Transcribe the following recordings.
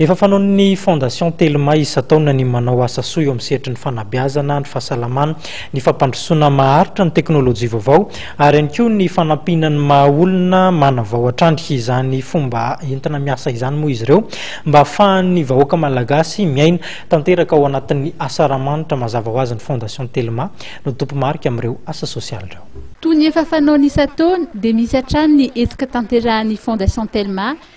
Efa fanaon'ny Fondation Telma isan-taona ny manao asa soa eo amin'ny sehatry ny fanabeazana, ny fahasalamana, ny fampandrosoana maharitra, ny teknolojia vaovao ary ihany koa ny fanampiana ny maha olona manavao hatrany. Izany fomba entina miasa izany moa izy ireo mba hahafahan'ny vahoaka malagasy miaina tanteraka ao anatin'ny asa Ramahanitra mazava ho azy ny Fondation Telma no tompomarika amin'ireo asa sosialy ireo. Toy ny efa fanaony isan-taona dia misy hatrany ny hetsika tanterahan'ny Fondation Telma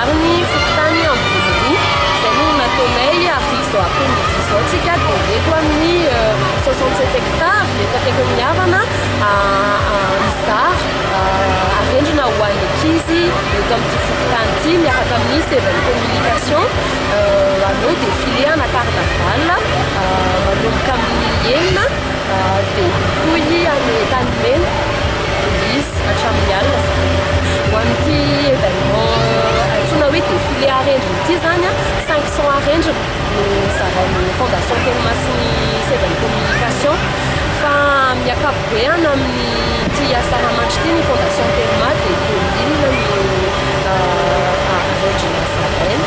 Ary ny fokontany Amboniroa, izay no nataonay avy izao après-midi izao tsika dia eto amin'ny soixante sept hectares eto akaikin'ny Havana mizara arendrina ho an'ny ankizy eto amin'ity fokontany ity miaraka amin'ny seven communication hanao défilé ana carnaval manomboka amin'ny enina dia hitohy any Tanimena. Misy hatramin'ny alina izany. Ho amin'ity événement antsoina hoe défilé arendrina ity izany, cinq cents arendrina no zarain'ny Fondation Teny Masin'ny seza ny communication. Fa amin'ny ankapobeny amin'ity asa rahamanitra ity ny Fondation Telma dia deux mille no arendrina zaraina.